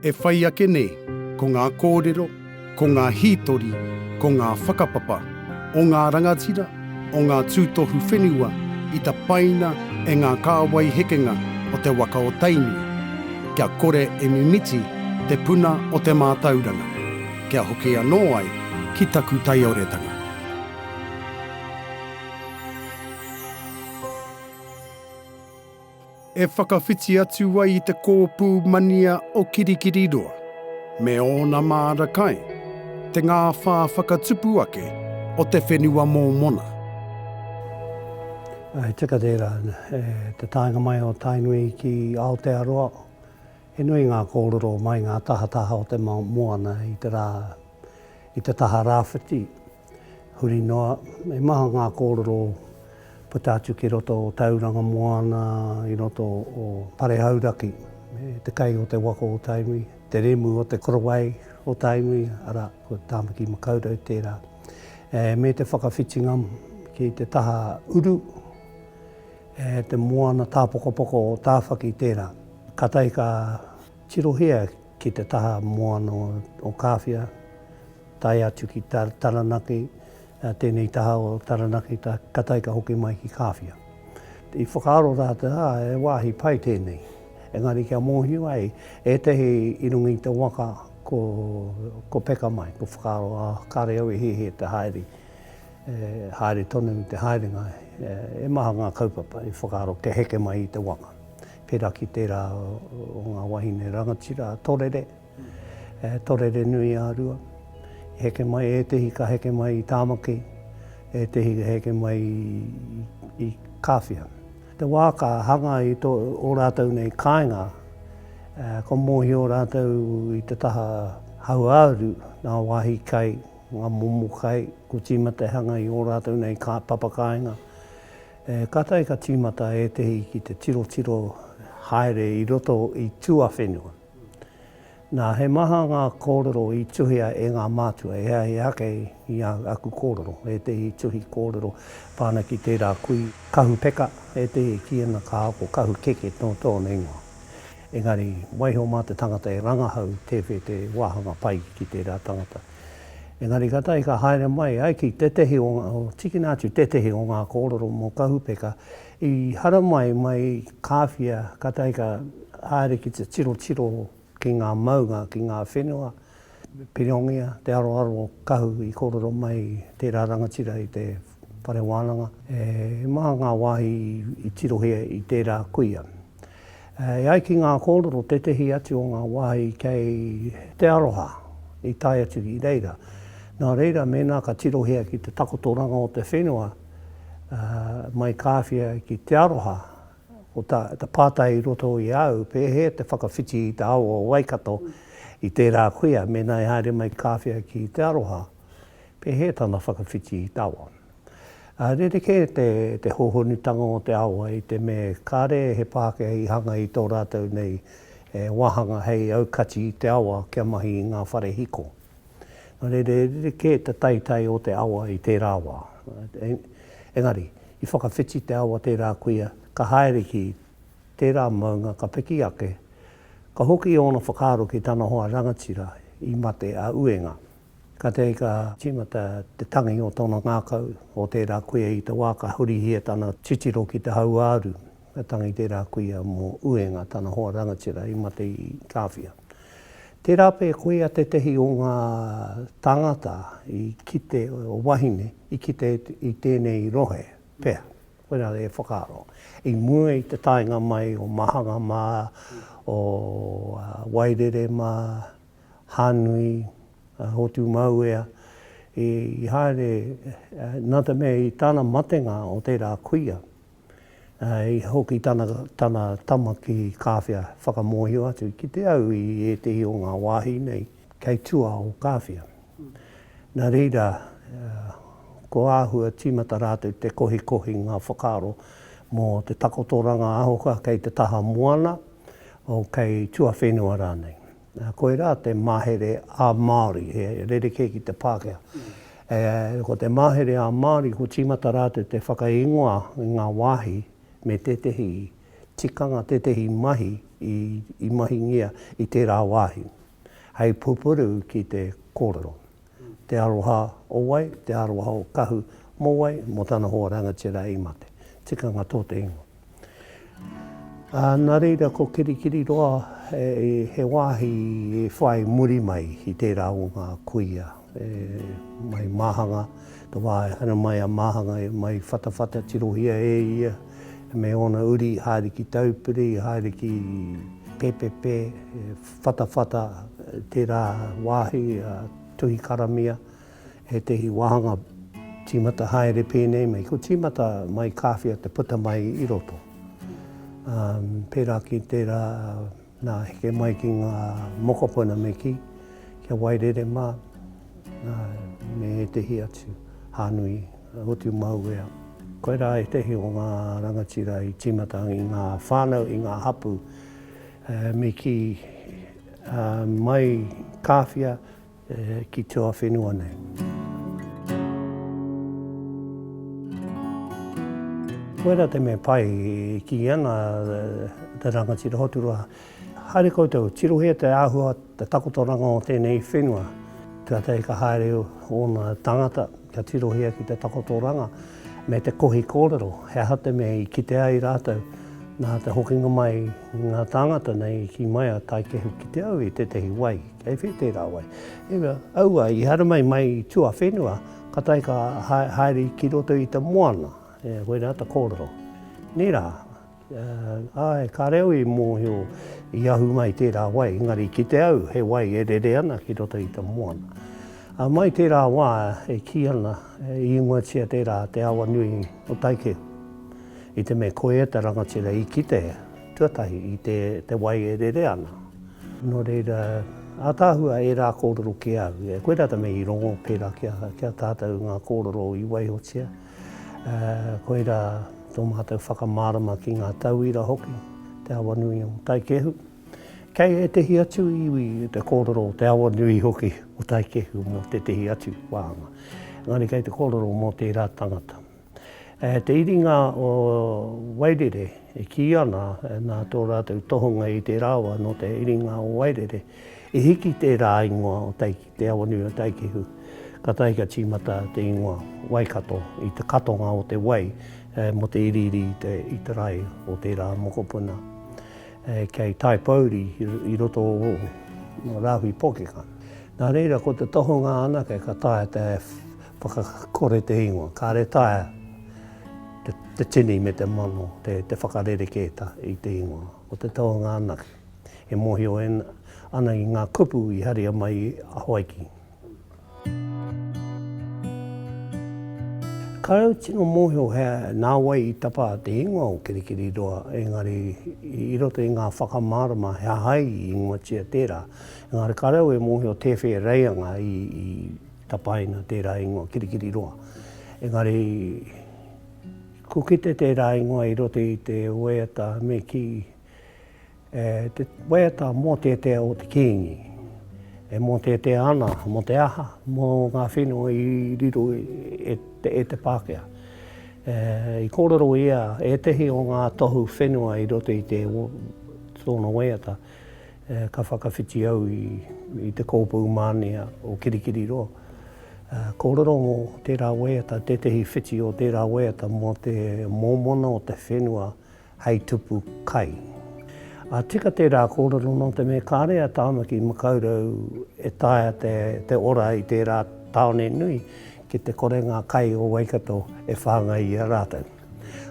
E whai ake nei, ko ngā kōrero, ko ngā hītori, ko ngā whakapapa o ngā rangatira, o ngā tūtohu whenua i tapaina e ngā kāwai hekenga o te waka o Tainui, kia kore e mimiti te puna o te mātauranga, kia hoki anō ai ki taku taioretanga. e whakawhiti atu ai i te kōpū mania o Kirikiriroa me ōna māra kai, te ngāwhā whakatupu ake o te whenua mōmona. He tika tērā. I te taenga mai o Tainui ki Aotearoa, he nui ngā kōrero mai ngā tahataha o te moana i te rā, i te taha rāwhiti, Huri noa, he maha ngā kōrero puta atu ki roto o Tauranga Moana, i roto o Pare Hauraki, me te kai o te waka o Tainui, te remu o te korowai o Tainui, arā, ko Tāmaki Makaurau tērā, me te whakawhitinga ki te taha uru, te moana tāpokopoko o Tāwhaki tērā. Kātahi ka tirohia ki te taha moana o Kāwhia, tae atu ki Taranaki, tēnei taha o Taranaki, ka taika hoki mai ki Kāwhia. I whakaaro rātou, ā, he wāhi pai tēnei, engari kia mōhio ai ētahi i runga i te waka ko peka mai, ko whakaaro, ā, kāre au e hiahia te haere, haere tonu te haerenga, e maha ngā kaupapa i whakaaro kia heke mai i te waka. Pērā ki tērā o ngā wāhine rangatira a Torere, Torere-nui-ā-rua, i heke mai, ētehi ka heke mai i Tāmaki, ētehi ka heke mai i Kāwhia. Te wā ka hanga i ō rātou nei kāinga, kua mōhio rātou i te taha hauāuru, ngā wāhi kai, ngā momo kai, kua tīmata e hanga i ō rātou nei papa kāinga. E kātahi ka tīmata ētehi ki te tirotiro haere i roto i tuawhenua. Nā, he maha ngā kōrero i tuhia e ngā mātua, e ai ake i ā aku kōrero, ētehi tuhi kōrero pā ana ki tērā kui kahu peka, ētehi ki ana ka ako kahu keke nō tōna ingoa. Engari, waiho mā te tangata e rangahau tēwhē te wāhanga pai ki tērā tangata. Engari ka tahi ka haere mai ai ki tētehi o, tikina atu tētehi o ngā kōrero mō Kahupeka i haramai mai i Kāwhia, ka tahi ka haere ki te tirotiro ki ngā maunga, ki ngā whenua, Pirongia, te aroaro o Kahu i kōrero mai i tērā rangatira i te whare wānanga, e maha ngā wāhi i tirohia i tērā kuia. E ai ki ngā kōrero tētehi atu o ngā wāhi kei Te Aroha i tae atu i reira. Nā reira mēnā ka tirohia ki te takotoranga o te whenua mai Kāwhia ki Te Aroha, ko te pātai i roto i a au, pēhea te whakawhiti i te awa o Waikato i tērā kuia mēnā i haere mai Kāwhia ki Te Aroha? Pēhea tana whakawhiti i te awa? Rerekē te hōhonutanga o te awa i te mea kāre he Pākehā i hanga i tō rātou nei wāhanga hei aukati i te awa kia mahi i ngā whare hiko. Nō reira, rerekē te taetae o te awa i tērā wā. Engari, i whakawhiti te awa tērā kuia, ka haere ki tērā maunga ka piki ake, ka hoki ōna whakaaro ki tana hoa rangatira i mate a Uenga. Kātahi ka tīmata te tangi o tōna ngākau, o tērā kuia i te wā ka hurihia tana titiro ki te hauāuru. Ka tangi tērā kuia mō Uenga, tana hoa rangatira i mate i Kāwhia. Tērā pea koia tētehi o ngā tāngata i kite, o wahine, i kite i tēnei rohe, pea, koirā e whakaaro. I mua i te taenga mai o Mahanga mā, o Wairere mā, Hānui, a Hotumauea, i haere, nā te mea i tana matenga o tērā kuia, i hoki tana, tana tama ki Kāwhia whakamōhio atu ki te au i ētehi o ngā wāhi nei kei tua o Kāwhia. Nā reira, ko āhua tīmata rātou te kohikohi ngā whakaaro mō te takotoranga aho ka kei te taha moana, o kei tuawhenua rānei. Koirā te mahere ā-Māori, he rerekē ki te Pākehā. Ko te mahere ā-Māori, ko tīmata rātou te whakaingoa i ngā wāhi me tētehi tikanga, tētehi mahi i mahingia i tērā wāhi, hei pupuru ki te kōrero. te aroha o wai, te aroha o Kahu mō wai, mō tana hoa rangatira i mate. Tikanga tō te ingoa. Ā, nā reira ko Kirikiriroa he wāhi e whai muri mai i tērā o ngā kuia e mai Māhanga, te wā e hara mai a Māhanga e mai Whatawhata, tirohia e ia me ōna uri haere ki Taupiri, haere ki Pēpēpē, Whatawhata, tērā wāhi a Tuhikaramia, ētehi wāhanga tīmata haere pēnei mai, ko tīmata mai kāwhia te puta mai i roto. Pērā ki tērā nā heke mai ki ngā mokopuna me kī, kia wairere mā, me ētehi atu hānui utu mauea. Koirā ētehi o ngā rangatira i tīmata i ngā whānau, i ngā hapū. Me kī, Mai Kāwhia ki tua whenua nei. Koira te mea pai e kī ana te rangatira Hoturoa, haere koutou, tirohia te āhua, te takotoranga o tēnei whenua. Kātahi ka haere ōna tangata kia tirohia ki te takotoranga. me te kohi kōrero, he aha te mea i kite ai rātou nā te hokinga mai i ngā tāngata nei i kī mai a Taikehu ki te au i tētehi wai, kei whē tērā wai. I mea, aua, i haramai mai i tuawhenua, ka tae ka haere ki roto i te moana, koirā te kōrero. Nē rā. Āe, kāre au i mōhio i ahu mai tērā wai, engari ki te au he wai e rere ana ki roto i te moana. Ā, mai tērā wā e kī ana, i ingoatia tērā te awa nui o Taikeu, i te mea ko ia te rangatira i kite tuatahi i te wai e rere ana. Nō reira, ātaahua ērā kōrero ki a au, koirā te mea i rongo pērā ki a tātou ngā kōrero i waihotia. Koirā tō mātou whakamārama ki ngā tauira hoki, te awanui o Taikehu. Kei ētehi atu iwi te kōrero o te awanui hoki o Taikehu mō tētehi atu wāhanga. Engari kei te kōrero mō tērā tangata. Te iringa o Wairere e kī ana nā tō rātou tohunga i tērā wā nō te iringa o Wairere i hiki tērā ingoa o Taikehu. Te Awanuataikehu, katahi ka tīmata te ingoa Waikato i te katonga o te wai mo te iriiri i te rae o tērā mokopuna kei Taipōuri i roto o Rāhui Pōkeka. Nā reira, ko te tohunga anake ka taea te whakakore te ingoa, kāre taea te tini me te mano te whakarerekēta i te ingoa. Ko te tohunga anake. e mōhio ana i ngā kupu i haria mai a Hawaiki. Kāore au tino mōhio he nā wai i tapa te ingoa o Kirikiriroa, engari i roto i ngā whakamārama he aha i ingoatia tērā. Engari kāore au e mōhio tēwhē reianga i tapaina tērā ingoa Kirikiriroa. Engari kukite tērā ingoa i roto i te waiata me kī. E te waiata mōteatea o te Kīngi, e mōteatea ana mō te aha? Mō ngā whenua i riro e, e te Pākehā. E, I kōrero ia ētehi o ngā tohu whenua i roto i te, tōna waiata, e, ka whakawhiti au i, i te kōpū mānia o Kirikiriroa. E, kōrero mō tērā waiata, tētehi whiti o tērā waiata mō te mōmona o te whenua hei tupu kai. A tika tērā kōrero nō te mea kāre a Tāmaki Makaurau e taea te ora i tērā tāone nui ki te kore ngā kai o Waikato e whāngai i a rātou.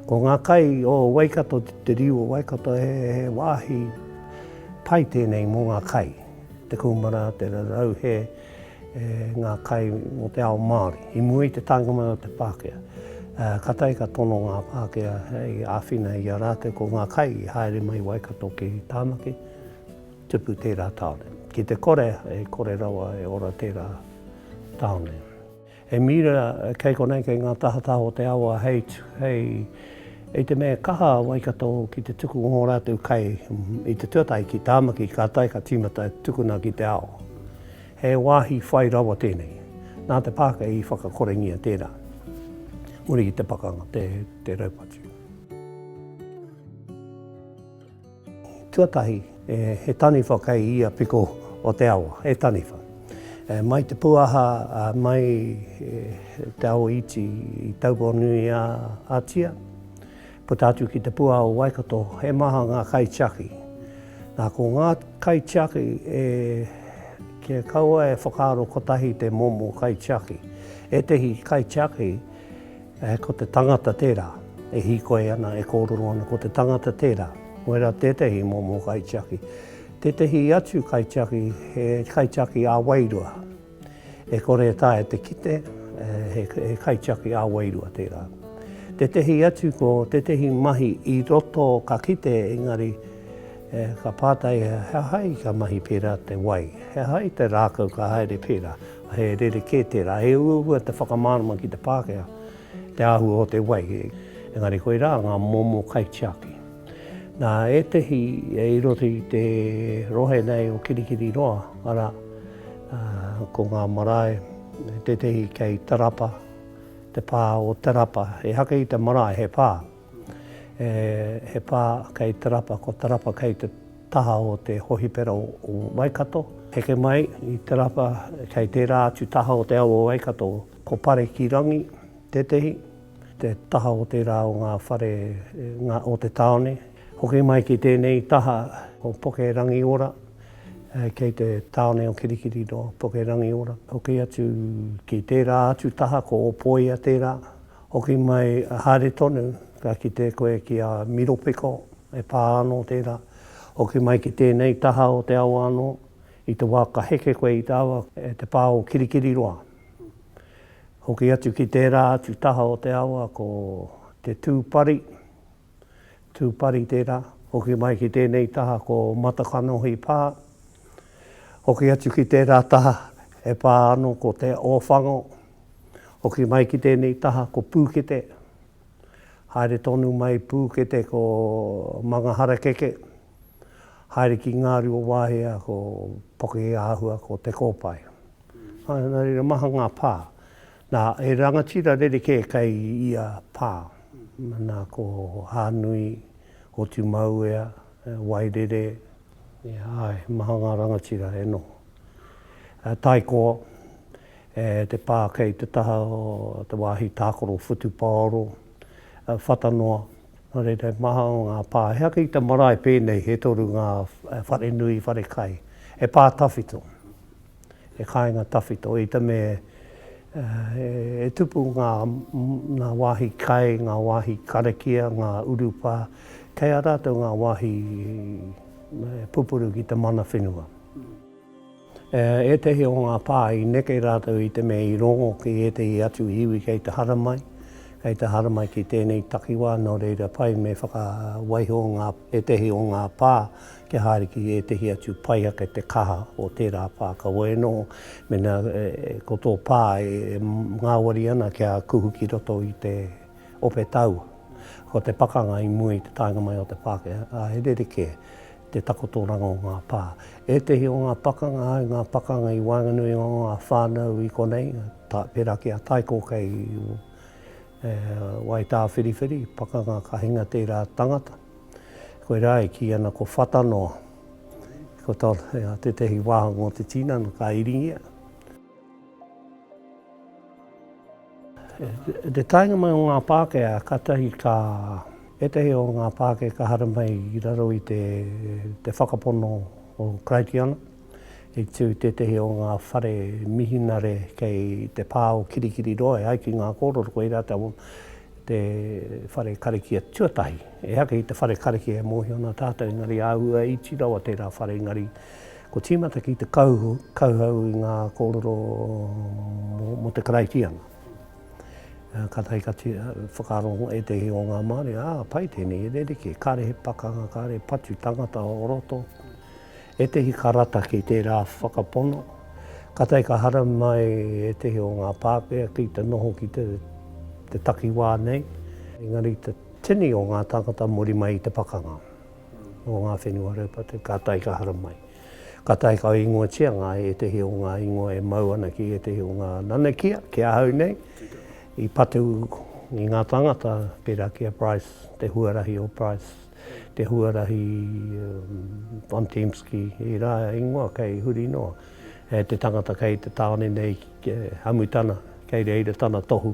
Ko ngā kai o Waikato, te riu o Waikato he wāhi pai tēnei mō ngā kai, te kūmara, te rarauhe, e ngā kai mō te ao Māori. I mua i te taenga mai o te Pākehā, ka tae ka tono ngā Pākehā hei āwhina i a rātou ko ngā kai i haere mai Waikato ki Tāmaki, tupu tērā tāone. Ki te kore, e kore rawa e ora tērā tāone. He mīra kei konei, kei ngā tahataha o te awa hei, hei, i te mea e kaha a Waikato ki te tuku o ngō rātou kai i te tuatahi ki Tāmaki, ka tae ka tīmata e tukuna ki te ao. He wāhi whai rawa tēnei. Nā te Pākehā i whakakorengia tērā. Muri ki te pakanga, te, te raupatu. Tuatahi, he taniwha kei ia piko o te awa, he taniwha. Mai te pūaha, mai te awa iti i Taupounui-a-Ātia, puta atu ki te pūaha o Waikato, he maha ngā kaitiaki. Nā, ko ngā kaitiaki, kia kaua e whakaaro kotahi te momo kaitiaki, ētehi kaitiaki, Ehh ko te tangata tērā e hīkoi ana, e kōrero ana, ko te tangata tērā. Koirā tētehi momo kaitiaki. Tētehi atu kaitiaki, he kaitiaki ā-wairua. E kore e taea te kite, he kaitiaki ā-wairua tērā. Tētehi atu ko tētehi mahi i roto ka kite engari ka pātai he aha i ka mahi pērā te wai, he aha i te rākau ka haere pērā. He rerekē tērā, he uaua te whakamārama ki te Pākehā, te āhua o te wai, engari koirā ngā momo kaitiaki. Nā ētehi i roto i te rohe nei o Kirikiriroa, arā, ko ngā marae, tētehi kei Tarapa, te pā o Tarapa, he haka i te marae, he pā, he pā kei Tarapa, ko Tarapa kei te Taha o te Hohipera o Waikato. Heke mai i Te Rapa kei tērā atu taha o te ao o Waikato. Ko Parekirangi tētehi, te taha o tērā o ngā whare o te tāone. Hoki mai ki tēnei taha ko Pokerangiora kei te tāone o Kirikiri noa Pokerangiora. Hoki atu ki tērā atu taha ko Opoia tērā, Hoki mai haere tonu, ka kite koe ki a Miropeko, e pā anō tērā. Hoki mai ki tēnei taha o te awa anō, i te wā ka heke koe i te awa e te pā o Kirikiriroa. Hoki atu ki tērā atu taha o te awa ko Te Tūpari. Tūpari tērā, hoki mai ki tēnei taha ko Matakanohi pā, hoki atu ki tērā taha e pā ano ko Te Ōwhango, hoki mai ki tēnei taha ko Pūkete, haere tonu mai Pūkete ko Mangaharakeke, haere ki Ngāruawāhia ko Pokiāhua ko Te Kōpae. Maha ngā pā. Nā, he rangatira rerekē kei ia pā. Nā, ko Hānui, ko Tumauea, Wairere, āe, he maha ngā rangatira e noho. Taikoa, te pā kei te taha o te wāhi tākaro whutupaoro, Whatanoa, nō reira, he maha ngā pā. He aha ki te marae pēnei he toru ngā wharenui, wharekai, he pā tawhito. he kāinga tawhito. I te mea e tupu ngā wāhi kai, ngā wāhi karakia, ngā urupā, kei a rātou ngā wāhi e pupuru ki te mana whenua. Ētehi o ngā pā i neke rātou i te mea i rongo ki ētehi atu iwi kei te haramai, kei te haramai ki tēnei takiwā, nō reira pai me whakawaiho ētehi o ngā pā, kia haere ki ētehi atu pai ake te kaha o tērā pā. Kaua e noho, mēnā ko tō pā e ngāwari ana kia kuhu ki roto i te ope taua, ko te pakanga i mua i te taenga mai o te Pākehā, ā, he rerekē te takotoranga o ngā pā. Ētehi o ngā pakanga, ae, ngā pakanga i waenganui i ngā whānau i konei, pērā ki a Taiko kei Waitāwhiriwhiri, pakanga ka hinga tērā tangata, Koirā e kī ana ko Whata noa. Ko tā tētehi wāhanga o te tinana ka iringia. I te taenga mai o ngā Pākehā, kātahi ka, ētehi o ngā Pākehā ka haramai i raro i te whakapono o Karaitiana. I tū tētehi o ngā whare mihinare kei te pā o Kirikiriroa e ai ki ngā kōrero, koirā te whare karakia tuatahi. Ehake i te whare karakia e mōhio ana tātou, engari āhua iti rawa tērā whare, engari kua tīmata ki te kauhau i ngā kōrero mō te Karaitiana. Kātahi ka whakaaro ētehi o ngā Māori, ā, pai tēnei e rerekē, kāre he pakanga, kāre patu tangata o roto. Ētehi karataki tērā whakapono, ka tae ka haramai mai ētehi o ngā Pākehā ki te noho ki te takiwā nei, engari te tini o ngā tāngata muri mai i te pakanga o ngā whenua raupatu ka tae ka haramai. Ka tae ka ingoatia ngā ētehi o ngā ingoa e mau ana ki ētehi o ngā nanakia, ki ahau nei, i patu i ngā tāngata, pērā ki a Price, te huarahi o Price. te huarahi Von Tempsky, ērā ingoa kei huri noa, e te tangata kei te tāone nei, hamu tana, kei reira tana tohu.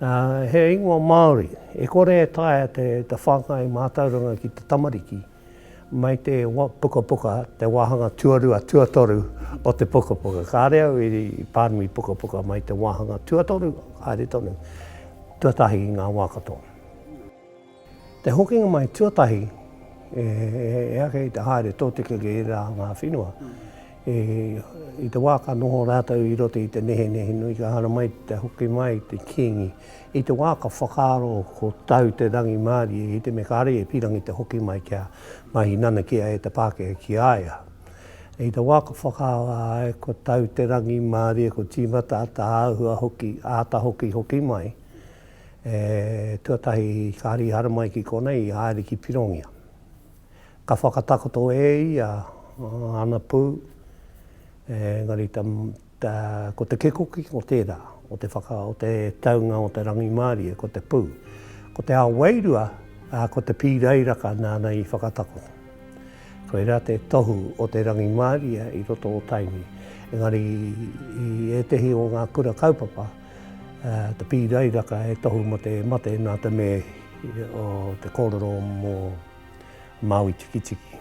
Ā, he ingoa Māori, e kore e taea te, te whāngai mātauranga ki te tamariki, mai te pukapuka, te wāhanga tuarua, tuatoru o te pukapuka. Kāre au i pānui pukapuka mai te wāhanga tuatoru, haere tonu, tuatahi i ngā wā katoa. Te hokinga mai tuatahi e ake i te haere tōtika ki ērā ngā whenua. I te wā ka noho rātou i roto i te nehenehe nui ka haramai te hoki mai i te Kīngi. I te wā ka whakaaro ko tau te rangimārie i te me kāre e pīrangi te hoki mai kia mahi nanakia e te Pākehā ki a ia. I te wā ka whakaaro āe ko tau te rangimārie ko tīmata āta āhua hoki, āta hoki hoki mai, E, tuatahi ka hari hara mai ki konei i haere ki Pirongia. Ka whakatakoto e ia ana pū, engari ta, ta, ko te kekoki ko tērā, o te whaka, o te taunga o te rangimārie, ko te pū. Ko te ao wairua, ā, ko te pīrairaka nāna i whakatakoto. Koirā te tohu o te rangimārie i roto o Tainui. Engari i ētehi o ngā kura kaupapa, Te pīrairaka he tohu mō te mate nā te me o te kōrero mō Māui Tikitiki.